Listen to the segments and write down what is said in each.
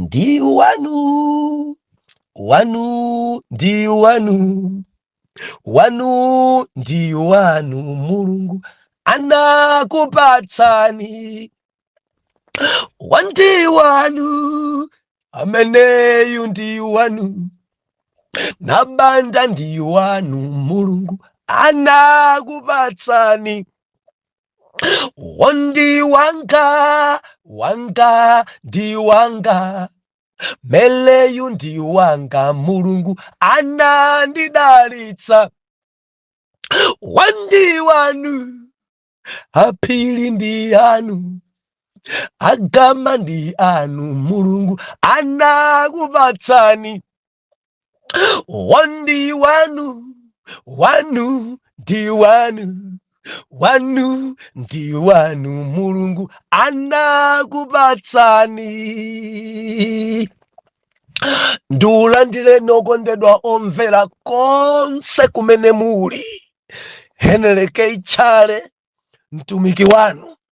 ndi wanu wanu ndi wanu wanu ndi wanu mulungu anakupatsani wa ndi wanu ameneyu ndi wanu nabanda ndi wanu mulungu anakupatsani Wa ndi wanga, wanga, ndi wanga. Ameneyu ndi wanga, Mulungu anandidalitsa. Wa ndi wanu, aphiri ndi anu. Agama ndi anu, Mulungu anakupatsani. wa ndi wanu wanu ndi wanu wanu ndi wanu mulungu anakupatsani ndikulandireni okondedwa omvera konse kumene muli henry k chale mtumiki wanu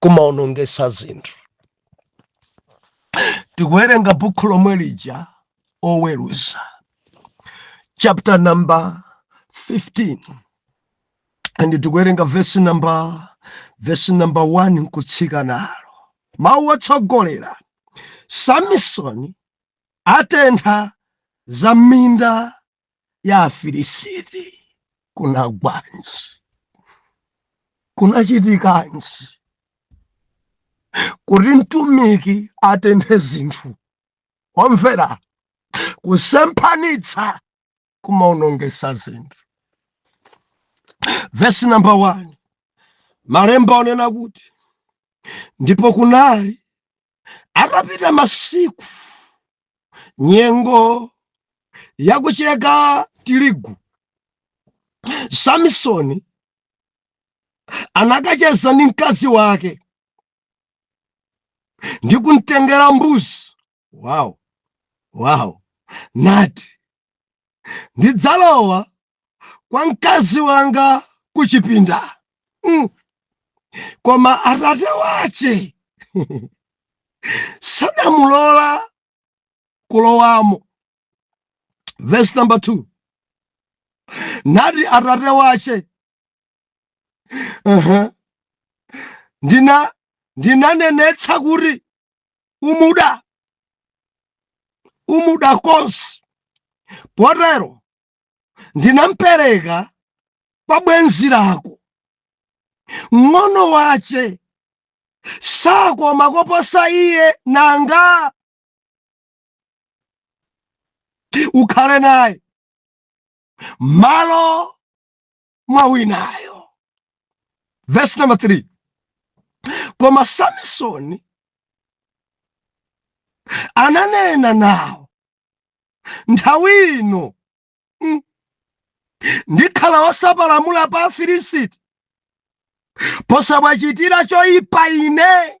kumaonongesa zinthu tikuwerenga bukhu lomwe lija oweruza chapter number 15 and tikuwerenga vesi number vesi number 1 nkutsika nalo mawu otsogolera samisoni atentha za minda ya afilisiti kunagwanji kunachitikanji kuti mtumiki atenthe zinthu omvera kusemphanitsa kumaonongesa zinthu vesi namba 1 malemba anena kuti ndipo kunali atapita masiku nyengo yakucheka tirigu samisoni anakacheza ndi mkazi wake ndi kumtengera mbuzi wow wow nati ndidzalowa kwa mkazi wanga kuchipinda mm. koma atate wace sanamulola kulowamo verse number 2 nati atate wace uh -huh. ndina ndinanenetsa kuti umuda umuda konse potero ndinampereka kwa bwenzi lako mng'ono wace sakoma koposa iye nanga ukhale naye malo mwa winayo verse number 3 koma samisoni ananena nawo nthawi ino mm, ndikhala wosapalamula pa afilisiti posawachitira choyipa ine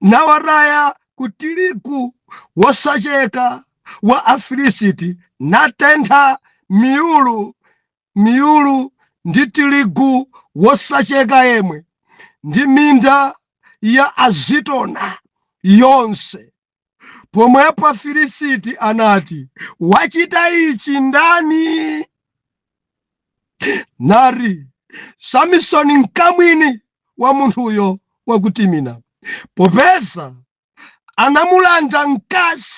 nawataya ku tirigu wosacheka wa afilisiti natentha miyulu miyulu ndi tirigu wosacheka yemwe ndi minda ya azitona yonse Pomwepo Afilisiti anati, wachita ichi ndani? Nati Samisoni mkamwini wa munthuyo wakutimina, popeza anamulanda mkazi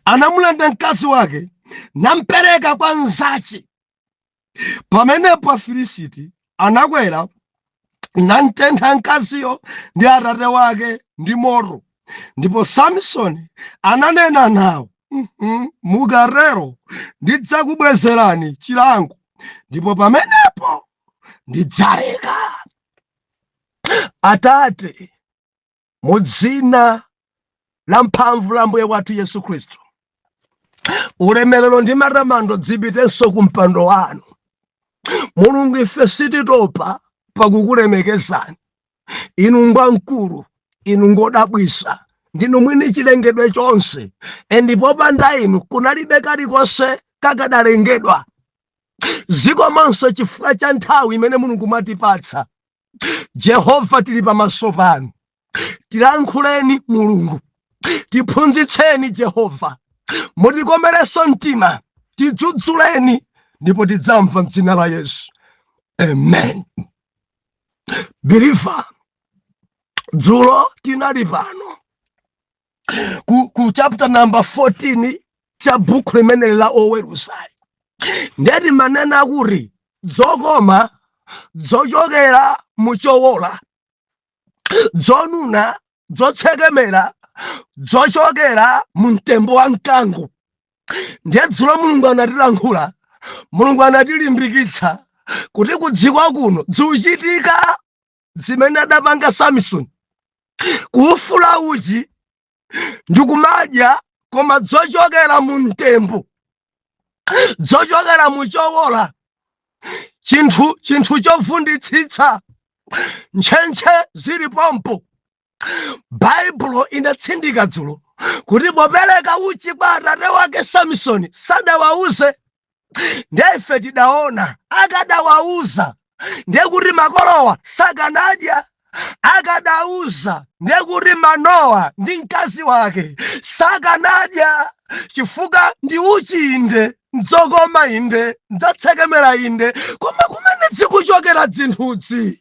anamulanda mkazi wake nampereka kwa mnzache pamenepo afilisiti anakwera namtentha mkaziyo ndi atate wake ndi moto ndipo samisoni ananena nawo "Mhm, mukatero ndidzakubwezerani chilango ndipo pamenepo ndidzaleka atate mu dzina la mphamvu la mbuye wathu yesu khristu ulemerero ndi matamando dzipitenso ku mpando wanu mulungu ife sititopa pakukulemekezani inu ngwamkulu inu ngodabwisa ndinu mwini chilengedwe chonse ndipo popanda inu kunalibe kalikonse kakadalengedwa zikomanso chifukwa cha nthawi imene mulungu mwatipatsa jehova tili pamaso panu tilankhuleni mulungu tiphunzitseni jehova mutikomerenso mtima tidzudzuleni ndipo tidzamva mdzina la yesu amen biliva dzulo tinali pano ku, ku chapter number 14 cha bukhu limene la oweruzali nde timanena kuti dzokoma dzochokera muchowola dzonuna dzotsekemera dzochokera mu mtembo wa mkango ndiye dzulo mulungu anatilankhula mulungu anatilimbikitsa kuti kudziko kuno dzuchitika zimene adapanga Samisoni kuufula uchi ndikumadya koma dzochokera mu mtembo dzochokera mu chowola chinthu chinthu chovunditsitsa ntchentche zili pompo baibulo inatsindika dzulo kuti popereka uchi kwa atate wake samisoni sadawauze ndiye ife tidaona akadawauza ndiye kuti makolowa sakanadya akadauza ndiye kuti manowa ndi mkazi wake sakanadya chifukwa ndi uchi inde ndzokoma inde ndzotsekemera inde koma kumene dzikuchokera dzinthudzi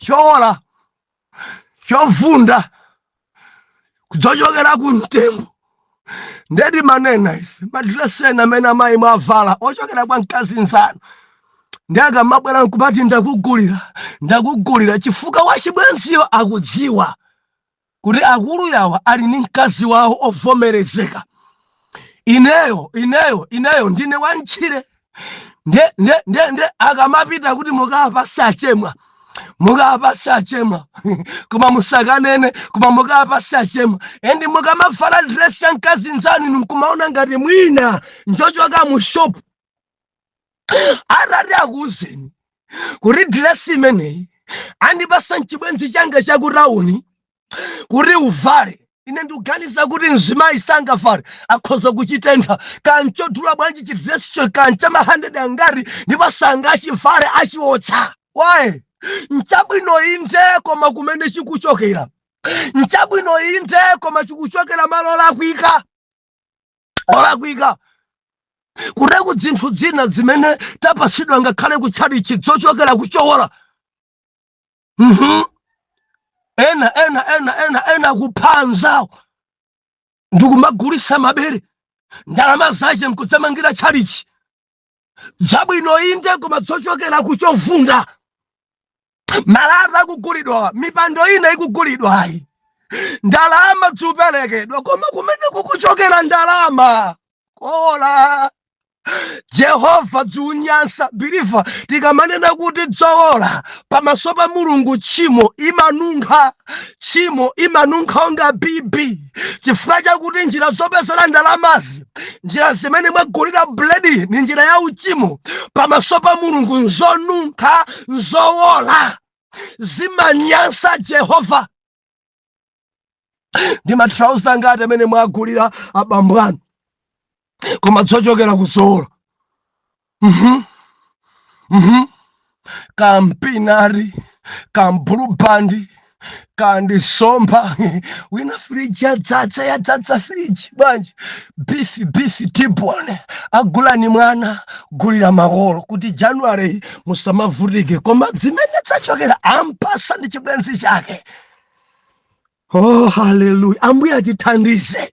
chowola chovunda kudzochokera ku mtembo nde timanena ife madilesi ena amene amayi mwavala ochokera kwa mkazi nzanu nde akamabwera nkumati ndakugulira ndakugulira chifukwa wachibwenziyo akudziwa kuti akulu yawa ali ndi mkazi wawo ovomerezeka ineyo ineyo ineyo ndine wantchire nde nde nde nde akamapita kuti mukapase achemwa mukapase achemwa koma musakanene koma mukapase achemwa endi mukamavala dress ya mkazi nzanu inu nkumaona ngati mwina njochoka mu shop atati akuuzeni kuti diresi imeneyi andipasa nchibwenzi changa chakutauni kuti uvale ine ndikuganiza kuti mzimayi sangavale akhoza kuchitentha kaya nchodula bwanji chidresicho kaya ncha mahandedi angati ndipo sangachivale achiotcha why nchabwino inde koma kumene chikuchokera nchabwino inde koma chikuchokera malo olakwika olakwika kutereku dzinthu dzina dzimene tapasidwa ngakhale kutchalichi dzochokera kuchowola mhm ena ena ena ena ena kupha anzawo ndikumagulisa mabere ndalama zache nkudzamangira tchalichi dzabwino inde koma dzochokera kuchovunda malata akugulidwa mipando ina ikugulidwayi ndalama zikuperekedwa koma kumene kukuchokera ndalama kowola jehova dzimunyansa believer tikamanena kuti dzowola pamaso pa mulungu tchimo imanunkha tchimo imanunkha monga bibi chifukwa chakuti njira zopezera ndalamazi njira zimene mwagulira buledi ni njira ya uchimo pamaso pa mulungu nzonunkha nzowola zimanyansa jehova ndi mathalauza ngati amene mwagulira abambo anu koma dzochokera ku zowola mhm mhm kampinari kabulubandi kandi nsomba wina firiji yadzadza yadzadza firiji bwanji bifi bifi tibone agulani mwana gulira makolo kuti january musamavutike koma dzimene dzachokera ampasa ndi chibwenzi chake oh haleluya ambuye atithandize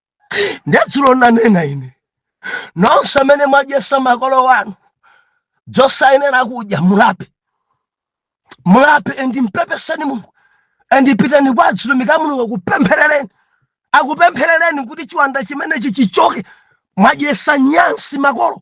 nde dzulo nanena ine nonse amene mwadyesa makolo wanu dzosayenera kudya mulape mulape endi mpepeseni mulungu endi pitani kwa azitumiki a mulungu akupempherereni akupempherereni kuti chiwanda chimenechi chichoke mwadyesa nyansi makolo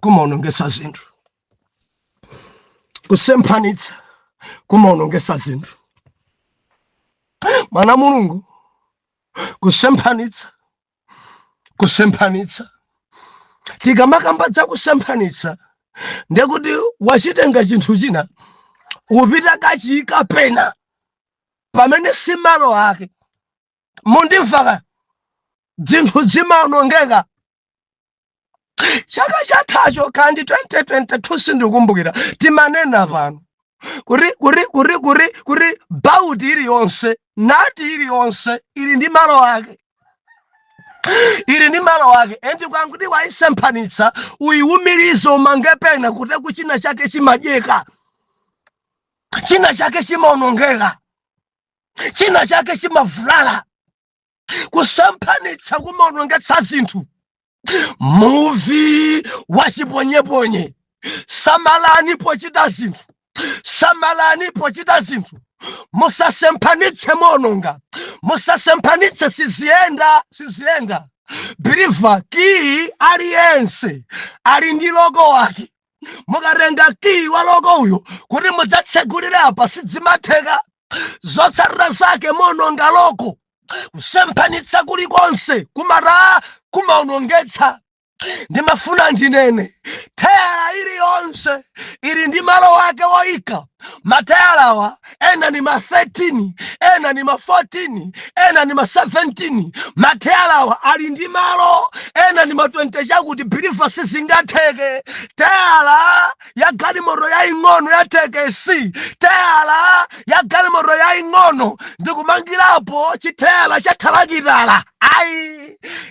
kumaonongesa zinthu kusemphanitsa kumaonongesa zinthu mwana mulungu kusemphanitsa kusemphanitsa tikamakamba za kusemphanitsa ndekuti wachitenga chinthu china upita kachiyika pena pamene si malo ake mundimvaka dzinthu dzimaonongeka chaka chathacho kandi 2022 sindikumbukira timanena pano kuti kuti kuti kuti kuti bauti iliyonse nati iliyonse ili ndi malo ake ili ndi malo ake endi kwanguti waisemphanitsa uyiwumirize umange pena kuteroko china chake chimadyeka china chake chimaonongeka china chake chimavulala kusemphanitsa kumaonongetsa zinthu muvi wachiponyeponye samalani pochita zinthu samalani pochita zinthu musasemphanitse muononga musasemphanitse siziyenda siziyenda biliva kiyi aliyense ali ndi loko wake mukatenga kiyi wa loko uyu kuti mudzatsegulire apa sidzimatheka zotsatira zake muononga loko kusemphanitsa kulikonse kumata kumaonongetsa ndimafuna ndinene theyala iliyonse ili ndi malo ake woyika matheyalawa ena ni ma 13 ena ni ma 14 ena ni ma 17 matheyalawa ali ndi malo ena ni ma 20 chakuti biliva sizingatheke teyala ya galimoto yaing'ono ya thekesi teyala ya galimoto yaing'ono ndikumangirapo chitheyala cha thalakitala ayi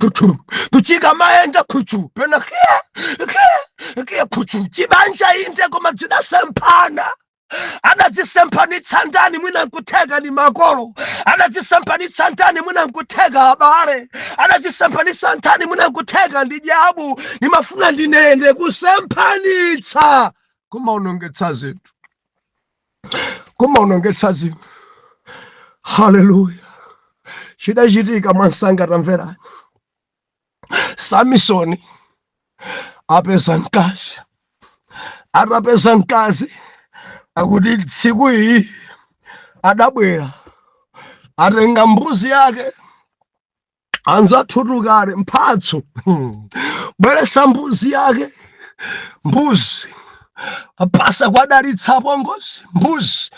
kuchu kuchika mayenda kuchu pena kia kia kia kuchu chibanja inde koma dzidasemphana adadzisemphanitsa ndani mwina nkutheka ni makolo adadzisemphanitsa ndani mwina nkutheka abale adadzisemphanitsa ndani mwina nkutheka ndi dyabu nimafuna ndinene kusemphanitsa kumaonongetsa zinthu kumaonongetsa zinthu haleluya chidachitika mwansanga tamverani samisoni apeza mkazi atapeza mkazi akuti tsiku iyi adabwera atenga mbuzi yake anzathutu kale mphatso hmm. bweresa mbuzi yake mbuzi apasa kuwadalitsa apongozi mbuzi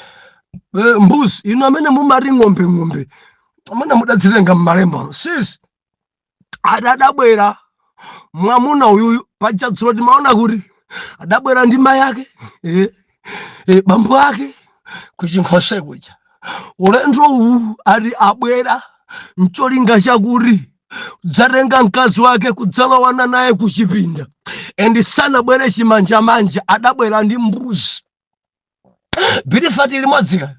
eh, mbuzi ino amene mumati ng'ombe ng'ombe amene mudadzitenga mmalemba sisi adadabwera mwamuna uyuyu paja dzulo timaona kuti adabwera ndi mai ake eh, eh, bambo ake kuchinkhoswe kuja ulendo uwu ati abwera ncholinga chakuti dzatenga mkazi wake kudzalowana naye kuchipinda endi sanabwere chimanjamanja adabwera ndi mbuzi birifati limodzi kaya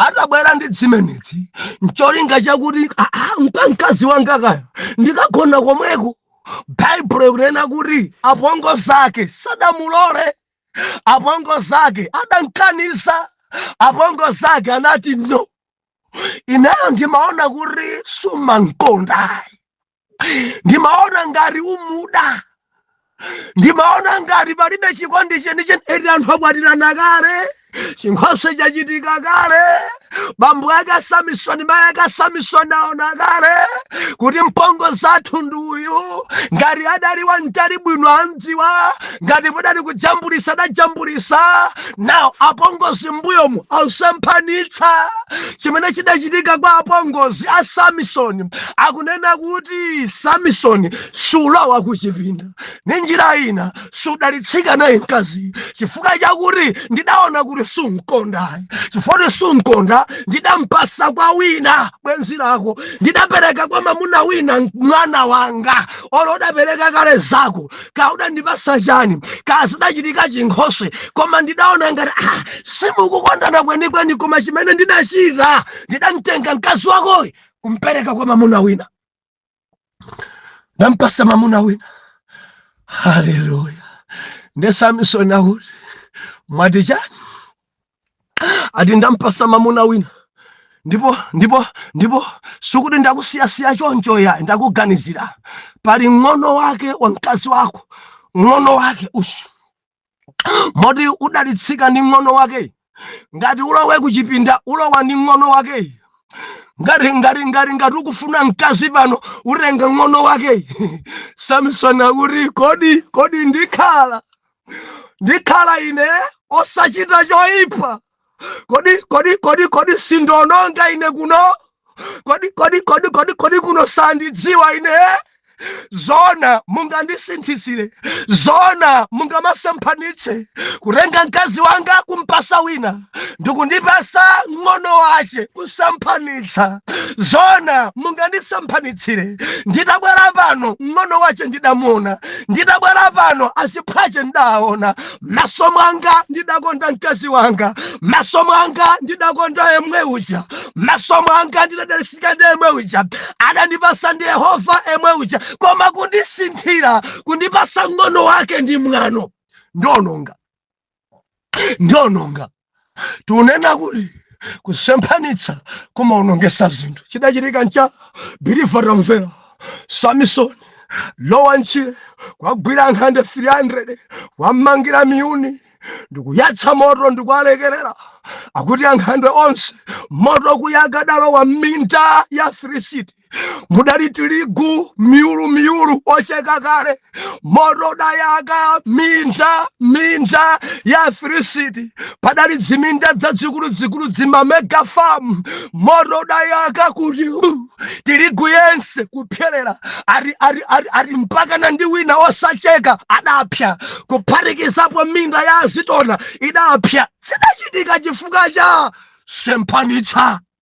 atabwera ndi dzimenedzi ncholinga chakuti "Ah, ah, mka mkazi wanga kaya ndikagona komweko baibulo ikunena kuti apongozi ake sadamulole apongozi ake adankanisa apongozi ake anati no ineyo ndimaona kuti sumankondayi ndimaona ngati umuda ndimaona ngati palibe chikondi chenicheni eti anthu akwatirana kale chinkhoswe chachitika kale bambo ake a samisoni mayi ake a samisoni aona kale kuti mpongozi wathu ndi uyu ngati adali wamtali bwino amdziwa ngati padali kujambulisa adajambulisa nawo apongozi mbuyomu ausemphanitsa chimene chidachitika kwa apongozi a samisoni akunena kuti samisoni sulowa kuchipinda ni njira ina sudalitsika naye mkazi chifukwa chakuti ndidaona kuti sunkonda chifukwa kuti sunkonda ndidampasa kwa wina bwenzi lako ndidapereka kwa mamuna wina mwana wanga olo udapereka kale zako ka udandipasa chani ka zidachitika chinkhoswe koma ndidaona ngati ah, simukukondana kwenikweni koma chimene ndidachita ndidamtenga mkazi wakoyo kumpereka kwa mamuna wina ndampasa mamuna wina haleluya nde samisoni akuti mwati chani ati ndampasa mamuna wina ndipo ndipo ndipo sikuti ndakusiyasiya choncho yayi ndakuganizira pali ng'ono wake wa mkazi wako ng'ono wake usu moti udalitsika ndi ng'ono wake ngati ulowe kuchipinda ulowa ndi ng'ono wake ngati ngati ngati ngati ukufuna mkazi pano utenga ng'ono wake samisoni akuti kodi kodi ndikhala ndikhala ine osachita choyipa kodi kodi kodi kodi sindiononga ine kuno kodi kodi kodi kodi kodi kuno sandidziwa ine zoona mungandisinthitsire zoona mungamasemphanitse kutenga mkazi wanga kumpasa wina ndikundipasa ng'ono wache kusemphanitsa zoona mungandisemphanitsire nditabwera pano ng'ono wache ndidamuona nditabwera pano aziphwache ndidaona maso mwanga ndidakonda mkazi wanga maso mwanga ndidakonda yemwe uja maso mwanga ndidadalitsika ndi yemwe uja adandipasa ndi yehova yemwe uja koma kundisinthira kundipasa ng'ono wake ndi mwano ndiononga ndiononga tunena kuti kusemphanitsa kumaonongetsa zinthu chidachitika ncha believer tamvera samisoni lowa mtchire kuwagwira ankhandwe 300 kuwamangira miyuni ndikuyatsa moto ndikuwalekerera akuti ankhandwe onse moto kuyaka udalowa mminda ya afilisiti mudali tirigu miyulu miyulu ocheka kale moto udayaka minda minda ya afilisiti padali dziminda dzadzikuludzikulu dzima mega farm moto udayaka kuti hu, tirigu yense kupyerera ati mpakana ndi wina osacheka adapya kuphatikizapo minda ya azitona idapya zidachitika chifukwa cha semphanitsa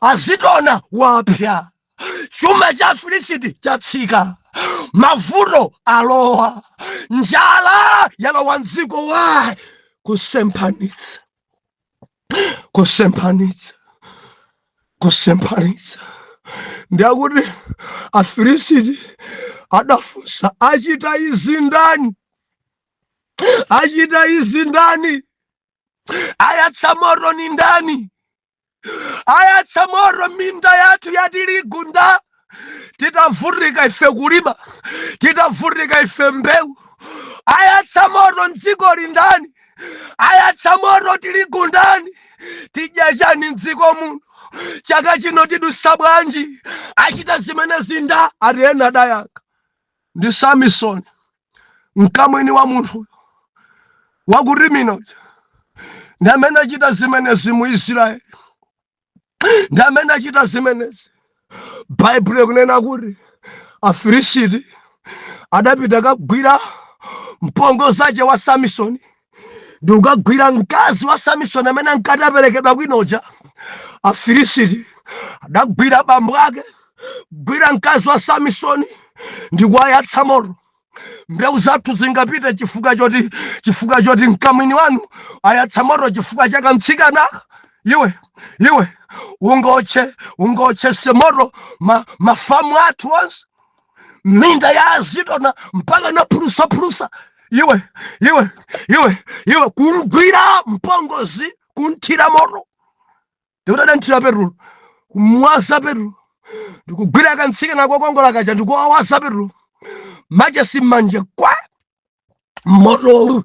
azitona wapya chuma cha afilisiti chatsika mavuto alowa njala yalowa mdziko why kusemphanitsa kusemphanitsa kusemphanitsa ndiye akuti afilisiti adafunsa achita izi ndani achita izi ndani ayatsa moto ni ndani ayatsa moto minda yathu ya tirigu nda titavutika ife kulima titavutika ife mbewu ayatsa moto mdzikoli ndani ayatsa moto tirigu ndani tidya chani mdziko muno chaka chino tidutsa bwanji achita zimenezi nda ati ena adayankha ndi samisoni mkamwini wa munthuyo wa ku Timna uja ndi amene achita zimenezi mu israeli ndi amene achita zimenezi baibulo ikunena kuti afilisiti adapita kagwira mpongo zace wa samisoni ndikukagwira mkazi wa samisoni amene ankati waperekedwa kwina uja afilisiti adagwira bambo ake gwira mkazi wa samisoni ndikuwayatsa moto mbewu zathu zingapite chifukwa choti mkamwini wanu ayatsa moto chifukwa cha kamtsikanaka iwe iwe ungotchese moto mafamu athu onse minda ya azitona mpaka inaphulusaphulusa iwe iwe iwe iwe kumgwira mpongozi kumthira moto ndikutha kumthira petulo kumwaza petulo ndikugwira kantsikana kokongola kaja ndikuwawaza petulo machesi mmanja kwaa moto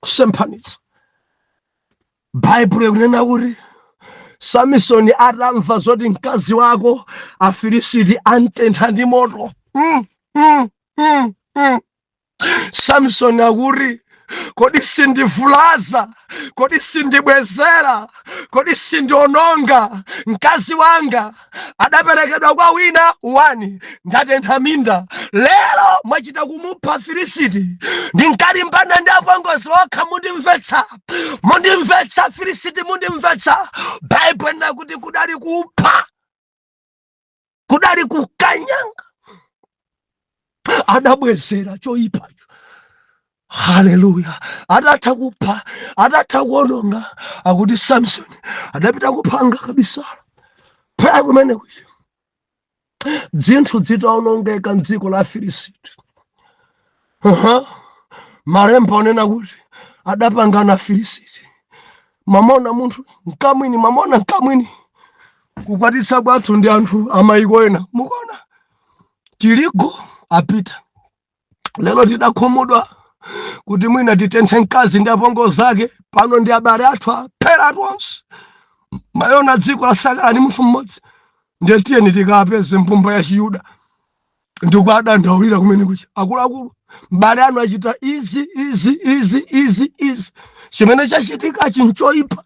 kusemphanitsa baibulo ikunena kuti samisoni atamva zoti mkazi wako afilisiti antentha ndi moto mm, mm, mm, mm. samisoni akuti kodi sindivulaza kodi sindibwezera kodi sindiononga mkazi wanga adaperekedwa kwa wina 1 ndatentha minda lero mwachita kumupha afilisiti ndinkalimbana ndi apongozi okha mundimvetsa mundimvetsa afilisiti mundimvetsa baibulo inena kuti kudali kupha kudali kukanyanga adabwezera choyipacho haleluya atatha kupha atatha kuononga akuti samsoni adapita kuphanga kabisala phaa kumene kucha dzinthu dzitaonongeka mdziko la afilisiti uh -huh. malemba akunena kuti adapangana afilisiti mamona munthu mkamwini mamona mkamwini kukwatitsa kwathu ndi anthu amayiko ena mukuona tiligu apita lero tidakhumudwa kuti mwina titenthe mkazi ndi apongo zake pano ndi abale athu aphera tonse mayona dziko lasakala ni munthu mmodzi ndiye tiyeni tikapeze mbumba ya chiyuda ndikuadandaulira kumene kucha akuluakulu abale anu achita izi izi izi izi izi chimene chachitikachi nchoipa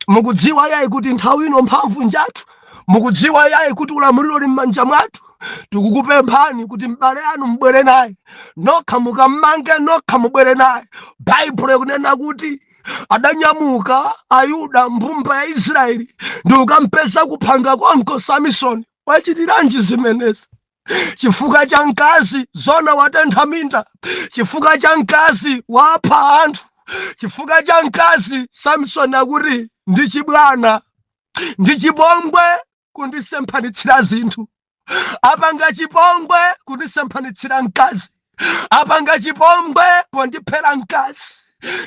mukudziwa yayi kuti nthawi ino mphamvu njathu mukudziwa yayi kuti ulamuliro uli m'manja mwathu tikukupemphani kuti m'bale anu mubwere naye nokha mukammange nokha mubwere naye baibulo ikunena kuti adanyamuka ayuda mbumba ya israeli ndikukampeza kuphanga konko samisoni wachitiranji zimenezi chifukwa cha mkazi zona watentha minda chifukwa cha mkazi wapha anthu chifukwa cha mkazi samsoni akuti ndi chibwana ndi chipongwe kundisemphanitsira zinthu apanga chipongwe kundisemphanitsira mkazi apanga chipongwe pondiphera mkazi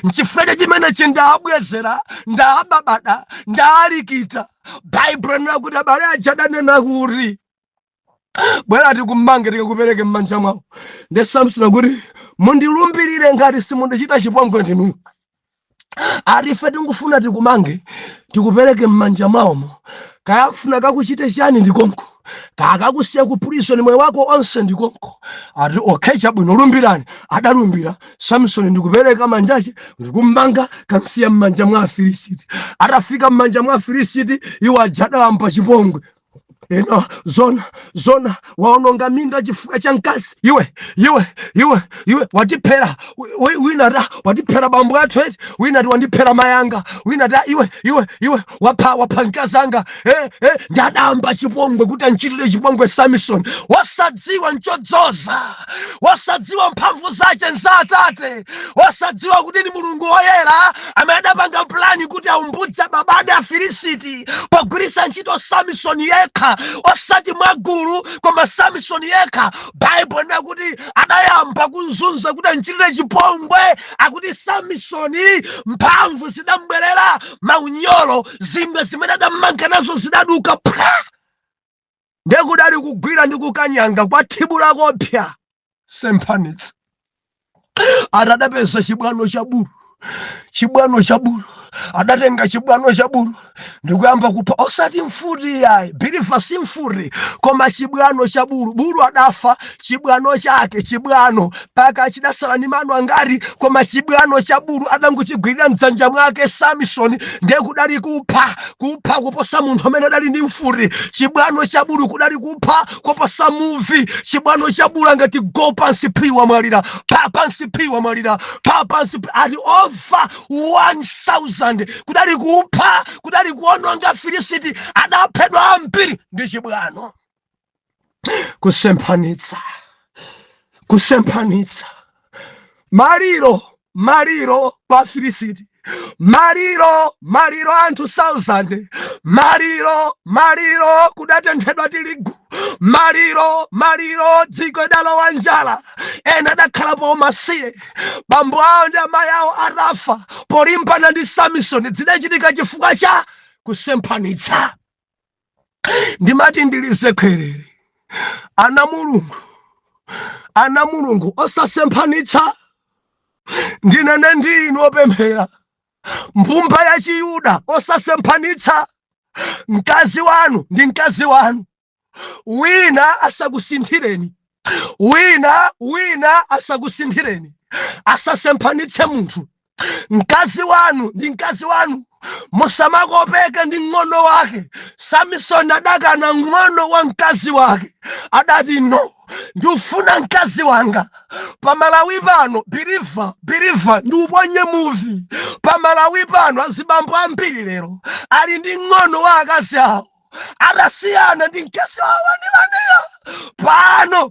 nchifukwa cha chimenechi ndaabwezera ndaababada ndaalikita baibulo linena kuti abale aja adanena kuti bwera tikummange tikakupereke m'manja mwawo nde samson akuti mundilumbirire ngati simundichita chipongwe ndinuyo ati ife tingufuna tikumange tikupereke m'manja mwawomo kaya kufuna kakuchite chani ndikonko kaya kakusiya ku prison moyo wako onse ndikonko ati okay chabwino lumbirani adalumbira samson ndikupereka manjache ndikummanga kamsiya m'manja mwa afilisiti atafika m'manja mwa afilisiti iwo aja adayamba chipongwe ena zona zona waononga minda chifukwa cha mkazi iwe iwe iwe iwe watiphera wina ati watiphera bambo athu eti wina ati wandiphera mayanga wina ati iwe iwe iwe wapha wapha mkazi anga eh, eh, nde adayamba chipongwe kuti anchitire chipongwe samison wasadza wosadziwa nchodzoza wosadziwa mphamvu zace nza atate wosadziwa kuti ni mulungu woyera amene adapanga pulani kuti awumbudze babade afilisiti pogwiritsa ntchito samisoni yekha osati mwagulu koma samisoni yekha baibulo linena kuti adayamba kumzunza kuti amchitire chipongwe akuti samisoni mphamvu zidambwerera maunyolo zingwe zimene adammanga nazo zidaduka phwa ndiye kudali kugwira ndi kukanyanga kwa thibu lakopsa semphanitsa ati adapeza chibwano cha bulu chibwano cha bulu adatenga chibwano cha bulu ndikuyamba kupha osati mfuti yayi biliva si mfuti koma chibwano cha bulu bulu adafa chibwano chake chibwano mpaka chidasala ni mano angati koma chibwano cha bulu adangochigwirira mdzanja mwake samisoni ndiye kudali kupha kupha kuposa munthu amene adali ndi mfuti chibwano cha bulu kudali kupha kuposa muvi chibwano cha bulu angati go pansi phi wamwalira pa pansi phi wamwalira pa pansi phi ati over 1000 kudali kupha kudali kuononga filisiti adaphedwa ambiri ndi chibwano kusemphanitsa kusemphanitsa maliro maliro pa filisiti maliro maliro anthu 1000 maliro maliro kudatenthedwa tirigu maliro maliro dziko idalowa njala ena adakhalapo umasiye bambo awo ndi amayi awo adafa polimbana ndi samisoni zidachitika chifukwa cha kusemphanitsa ndimati ndilize khwerere ana mulungu ana mulungu osasemphanitsa ndinene ndi inu opemphera mbumba ya chiyuda osasemphanitsa mkazi wanu ndi mkazi wanu wina asakusinthireni wina wina asakusinthireni asasemphanitse munthu mkazi wanu ndi mkazi wanu musamakopeke ndi mng'ono wake samisoni adakana mng'ono wa mkazi wake adati no ndifuna mkazi wanga pamalawi pano biriva biriva ndi uponye muvi pamalawi pano azibambo ambiri lero ali ndi mng'ono wa akazi awo adasiyana ndi mkazi wawo wanewaneyo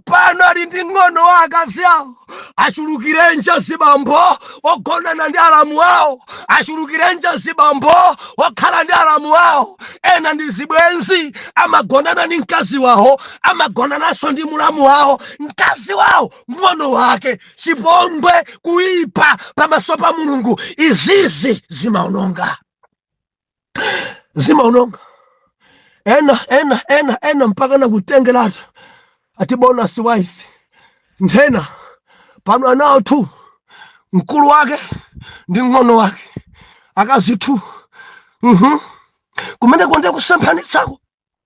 pano ali ndi ng'ono wa akazi awo achulukirenji azibambo ogonana ndi alamu awo achulukirenji azibambo okhala ndi alamu awo ena ndi zibwenzi amagonana ndi mkazi wawo amagonananso ndi mulamu wawo mkazi wawo ng'ono wake chipongwe kuipa pamaso pa mulungu izizi zimaononga zimaononga ena ena ena ena mpaka nakutengeratu ati bonus wife nthena pano anawo tu mkulu wake ndi mng'ono wake akazi tu mhm kumeneko ndi kusemphanitsako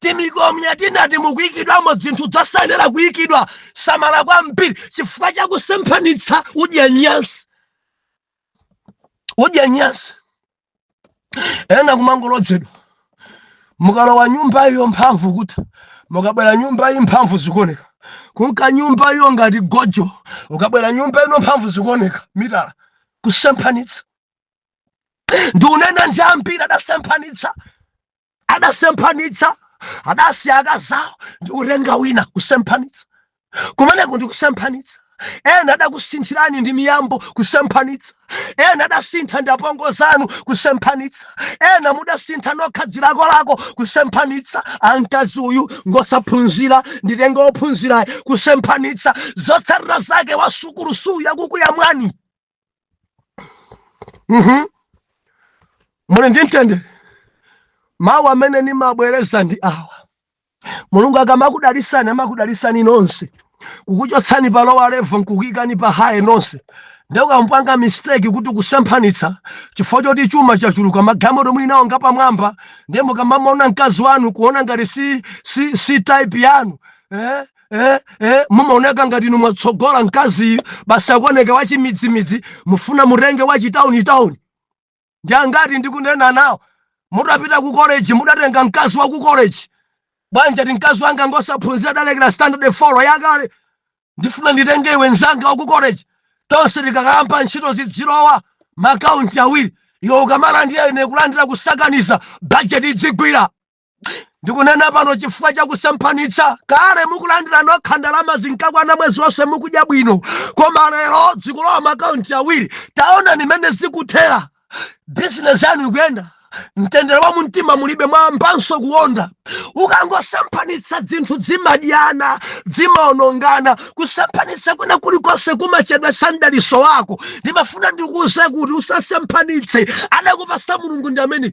timikomya tinati mukuikidwamo dzinthu dzosayenera kuikidwa samala kwambiri chifukwa chakusemphanitsa udya nyansi udya nyansi ena kumangolodzedwa mukalowa nyumba iyo mphamvu kutha mukabwera nyumba iyi mphamvu zikuoneka kunka nyumba iyo ngati gojo ukabwera nyumba ino mphamvu zikuoneka mitala kusemphanitsa ndiunena ndi ambiri adasemphanitsa adasemphanitsa adasiya akazawo ndi kutenga wina kusemphanitsa kumeneko ndi kusemphanitsa ena adakusinthirani ndi miyambo kusemphanitsa ena adasintha ndi apongozi anu kusemphanitsa ena mudasintha nokha dzilakolako kusemphanitsa a mkazi uyu ngosaphunzira nditenga ophunzirayo kusemphanitsa zotsatira zake wasukulusuyu akukuyamwani Mhm. muli ndi mtendere mawu amene ndimabwereza ndi awa mulungu akamakudalisani amakudalisani nonse kukuchotsani pa lower level nkukuyikani pa higher nonse nde ukamapanga mistake kuti kusemphanitsa chifukwa choti chuma chachuluka magalimoto muli nawo ngapamwamba ndiye mukamamuona mkazi wanu kuona ngati si, si, si type yanu eh? eh, eh, mumaoneka ngati inu mwatsogola mkaziyu basi akuoneka wachimidzimidzi mufuna mutenge wachitauni tauni ndi angati ndikunena nawo mutapita ku college mudatenga mkazi wa ku college bwanji ati mkazi wanga ngosaphunzira adalekera standard 4 yakale ndifuna nditenge iwe mzanga wa ku college tonse tikakayamba ntchito zidzilowa makaunti awiri iwe ukamalandira ine kulandira kusakaniza bajeti idzigwira ndikunena pano chifukwa cha kusemphanitsa kale mukulandira nokha ndalama zinkakwana mwezi wonse mukudya bwino koma lero zikulowa makaunti awiri taona mmene zikuthera bizinesi yanu ikuyenda mtendere wa mumtima mulibe mwayambanso kuonda ukangosemphanitsa zinthu zimadyana zimaonongana kusemphanitsa kwina kulikonse kumachedwetsa mdaliso wako ndimafuna ndikuuze kuti usasemphanitse adakupasa mulungu ndi amene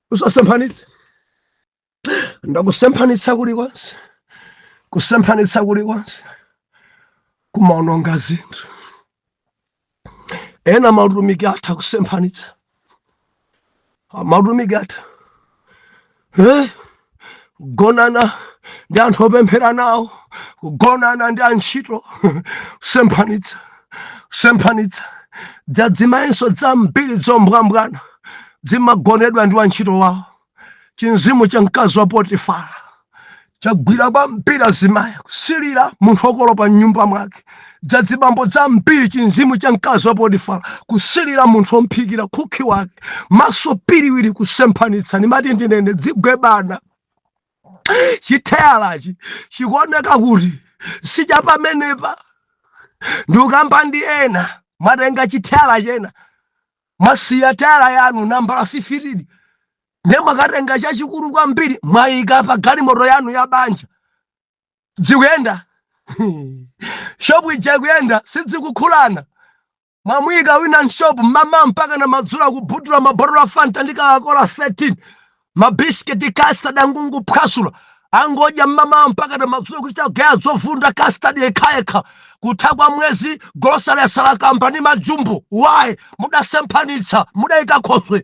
usasemphanitse ndati kusemphanitsa kulikonse kusemphanitsa kulikonse kumaononga zinthu ena mautumiki atha kusemphanitsa mautumiki atha eh? kugonana ndi anthu opemphera nawo kugonana ndi antchito kusemphanitsa kusemphanitsa dzadzimayinso dzambiri dzombwambwana zimagonedwa ndi wantchito wawo chimzimu cha mkazi wa potifara chagwira kwambiri azimayi kusilira munthu okolopa mnyumba mwake dzadzibambo dzambiri chimzimu cha mkazi wa potifara kusilira munthu womphikira khukhi wake maso piriwiri kusemphanitsa ndimati ndinene dzigwebana chitheyalachi chikuoneka kuti sicha pamenepa ndikukamba ndi ena mwatenga chitheyala chena mwasiya teyala yanu nambala 15 ndiye mwakatenga chachikulu kwambiri mwayika pa galimoto yanu ya banja dzikuyenda shopu ija ikuyenda sidzikukhulana mwamuyika wina mshopu mmamawa mpakana madzulo akubhutula mabotolo a fanta ndi kokakola 13 mabisiketi custard akungophwasula angodya mmamawa mpakana madzulo kuchita kugeya zovunda custard yekhayekha kutha kwa mwezi golosale yatsala kamba ndi majumbo why mudasemphanitsa mudayika khoswe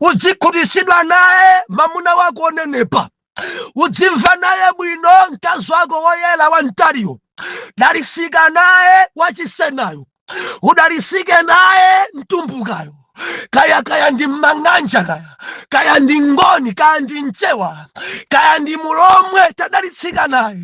udzikhutitsidwa naye mamuna wako onenepa udzimva naye bwino mkazi wako woyera wamtaliyo dalisika naye wachisenayo udalisike naye mtumbukayo kaya kaya ndi mmang'anja kaya kaya ndi ngoni kaya ndi mchewa kaya ndi mulomwe tadalitsika naye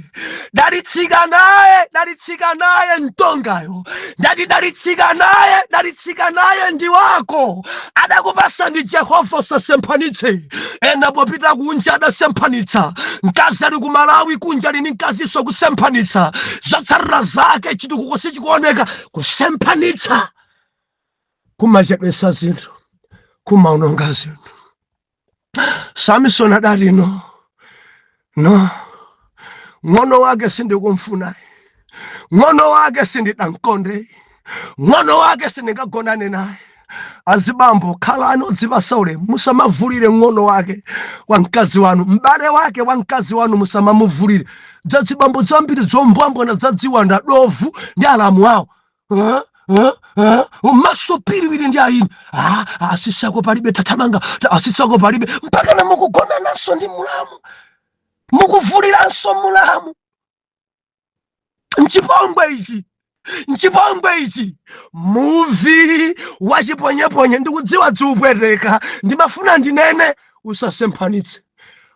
dalitsika naye dalitsika naye mtongayo ndati dalitsika naye dalitsika naye ndi wako adakupasa ndi jehova usasemphanitse ena popita kunja adasemphanitsa mkazi ali ku malawi kunja ali ndi mkazinso kusemphanitsa zotsatira zake chitukuko sichikuoneka kusemphanitsa kumachedwesa zinthu kumaononga zinthu Samisoni adati no no, ng'ono wake sindikumfunayi, ng'ono wake sindidamkondeyi, ng'ono wake sindingagonane naye. Azibambo khalani odzipatsa ulemu, musamavulire ng'ono wake wa mkazi wanu, m'bale wake wa mkazi wanu musamamuvulire. Dzazibambo dzambiri dzombwambwana dzadziwanda dovu ndi alamu awo huh? huh? huh? maso piriwiri ndi ayini ah, asisi ako palibe tathamanga asisi ako palibe mpakana mukugonananso ndi mulamu mukuvuliranso mulamu nchipongwe ichi nchipongwe ichi muvi wachiponyeponye ndikudziwa dzikupweteka ndimafuna ndinene usasemphanitse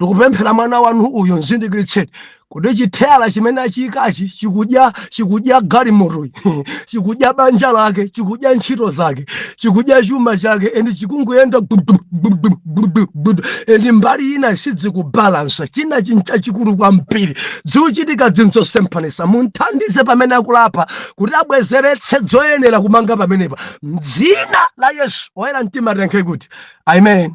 ndikupemphera mwana wanu uyu mzindikiritseni kuti chitayala chimene achiyikachi chikudya chikudya galimotoyi chikudya banja lake chikudya ntchito zake chikudya chuma chake endi chikunguyenda gudu- gudu- gudu- gudu. endi mbali inayi sidzikubalansa china nchachikulu kwambiri dzikuchitika dzinzosemphanitsa mumthandize pamene akulapa kuti abwezeretse dzoyenera kumanga pamenepa mdzina la yesu oyera mtima tiyankhe kuti amen